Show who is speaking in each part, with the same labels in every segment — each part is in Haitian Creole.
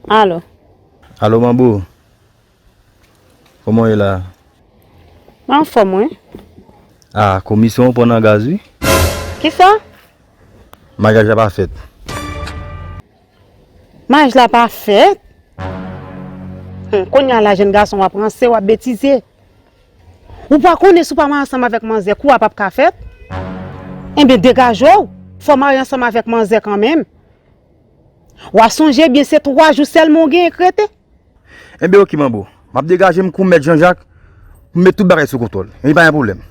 Speaker 1: Alo. Alo
Speaker 2: manbo. Koman ou ye la? Mwen
Speaker 1: an fòm wi. A,
Speaker 2: komisyon ou pran nan gaz wi. Ki sa? Maryaj la pa fèt.
Speaker 1: Maryaj la pa fèt? Kounye a la jèn gason w ap ranse, w ap betize. Ou pa konnen si w pa marye ansanm avèk manzè kou a pap ka fèt? Enben degaje w, fè w marye ansanm avèk manzè kanmenm. W a sonje byen se 3 jou sèlman w genyen k rete. Enben
Speaker 2: oke manbo, m ap degaje m kou mèt Janjak pou m met tout bagay sou kontwòl. Li pa gen pwoblèm.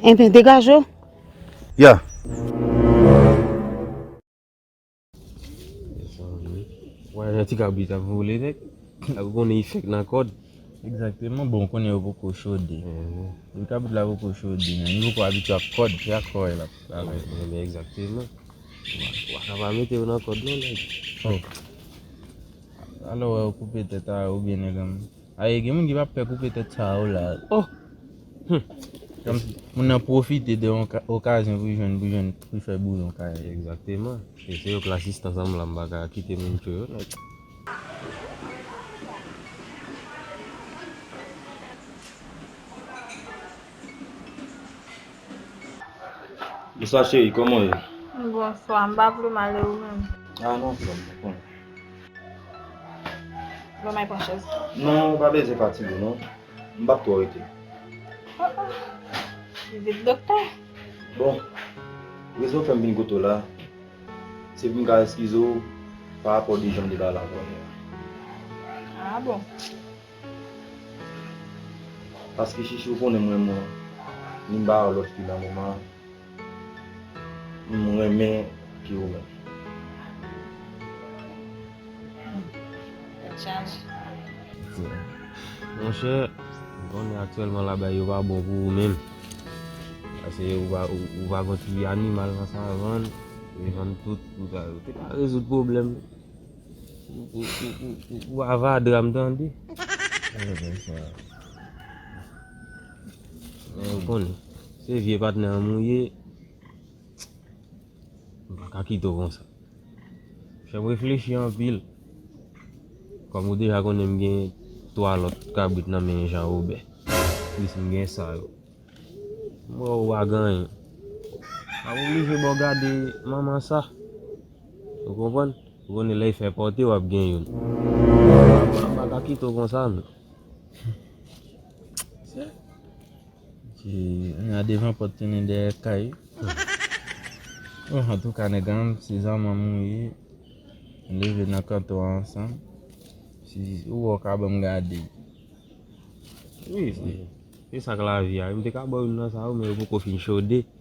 Speaker 2: Enben
Speaker 1: degaje w. Ya!
Speaker 3: Wè jan ti kabrit ap vole nèg. Epi w konnen li fèk nan kòd. Egzakteman, bon
Speaker 4: ou konnen yo poko chode. Depi kabrit la poko chode menm, li poko abitye ak kòd, se ak kò l ap travay. Egzakteman.
Speaker 3: Ou pa ka pa mete yo nan kòd non nèg. Alò
Speaker 4: wè yo koupe tèt a ou byen nèg anm. Aye gen moun ki pap pè koupe tèt sa yo la oh humm moun nan profite de yon okazyon pou jwenn pou jwenn pou fè bouyon kay li. Exactement
Speaker 3: e se yo k la sistans an m la m pa ka kite moun cho yo non.
Speaker 2: Bonswa cheri kòman ou ye? Bonswa m pa
Speaker 5: vle mal e ou menm? Ah non frèm m
Speaker 2: konn.
Speaker 5: Bon may pran chèz. Non ou pa bezwen
Speaker 2: pati boo non. M pap twò rete. Oh oh.
Speaker 5: Vizit doktè. Bon,
Speaker 2: rezon fèm vin kote w la, se pou m ka eskize w pa rapò de janm te pale ak ou anvan an.
Speaker 5: Ah bon.
Speaker 2: Paske Chichi ou konnen m renmen w, ni m pa wè lòt fi nan moman an. M renmen piu menm.
Speaker 5: Tèt chaje.
Speaker 3: Monchè, m konnen aktyèlman la bay yo pa bon pou ou menm. Pase ou va gen ti animal nan savann, ou vann tout pou sa. Ou te ka rezoud pwoblèm pou avadra m tande. Mwen konnen. Se vye patnè anm ou ye m pa ka kite w konsa fè m reflechi anpil kòm ou deja konnen m gen 3 lòt kabrit nan men Jan Wobè plis m gen sa yo m wè w pa gen anyen m ap oblije ba w gade manman sa ou konprann ou konnen lè y fè pòte w ap gen youn m pa ka kite w konsa non.
Speaker 4: Nya devan pot tounen dèyè kay. Oh antouka nèg an se zanmanm ou ye Nou leve nan kanto a ansanm Si ou wè ou ka banm gade
Speaker 3: Wi se sak lavi a Yo te ka baw youn nan sa yo men yo poko fin chode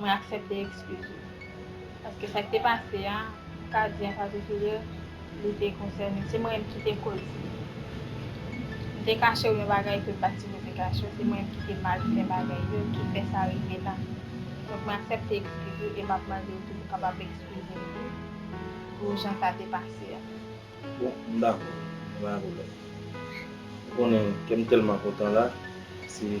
Speaker 5: Mwen aksepte ekskiz ou. Paske sa ki te pase a, m ka di an patikilye, li te konsène. Se mwen menm ki te koz li. M te kache ou yon bagay ke m pa t sipoze kache ou. Se mwen menm ki te mal fè bagay yo, ki fè sa rive la. Donk mwen aksepte ekskiz ou e m ap mande ou tou pou kapab ekskize m tou pou jan sa te pase a. Bon,
Speaker 2: m dakò. Pa gen pwoblèm. Ou konnen, kè m tèlman kontan la, se.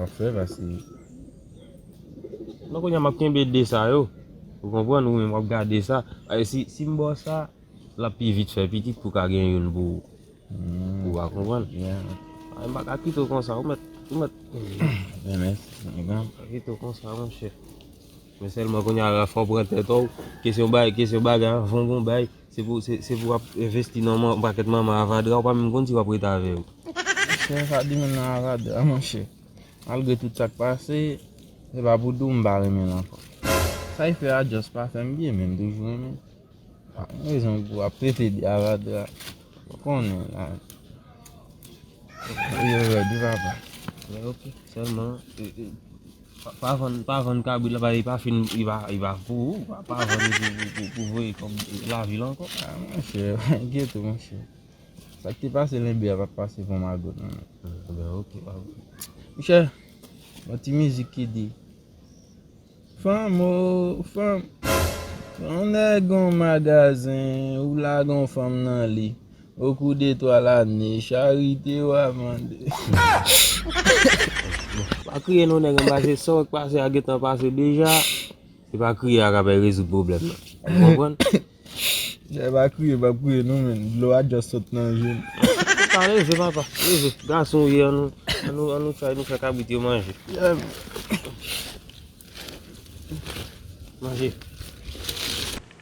Speaker 4: Afè vasiye. Non
Speaker 3: kounye a map kenbe 2 sa yo. Ou konprann ou menm wap gade sa. Paske si si m ba w sa, lap pi vit fè pitit pou w ka gen youn pou pou w ka konprann. Mwen pa ka kite w konsa ou mèt ou mèt.
Speaker 4: Mwen mèt mwen mèt. Pa kite w konsa monchè.
Speaker 3: Men sèlman kounye a fò w pran tèt ou. Kesyon bagay kesyon bagay anvan w gon bagay. Se pou se pou wap envesti nan yon pakèt manman avadra ou pa menm konn si wap rete avè yo. Monchè sa di
Speaker 4: moun nan avadra monchè malgre tout sak pase se pa pou diw m pa renmen l ankò sa e fè a just pa fèm byen men m toujou renmen l pa gen rezon pou wap trete de avadra ou konnen la vi yo rèd wi papa. Mwen ok
Speaker 3: sèlman. Pa vann pa vann kabrit la paske li pa fin li pa li pa pou ou pa vann pou pou voye kòb lavil ankò. Ah monchè
Speaker 4: enkyete ou monchè Sak te pase lenbe a pap pase pou magot nan Ebyen ok
Speaker 3: pa Monchè
Speaker 4: Yon ti mizik ki di Fanm oo fanm Yon nèg gon magazen ou lagon fanm nan li O kou de twa lane, charite w a mande.
Speaker 3: Pa kriye non nèg anba se sa w k pase a gentan pase deja se pa kriye a k apè rezoud pwoblèm nan ou konprann. Nèg
Speaker 4: pa kriye pa kriye non menn dlo a just sot nan je m. Pa leve
Speaker 3: papa leve gason w ye an nou an nou try nou fè kabrit yo manje. Manje.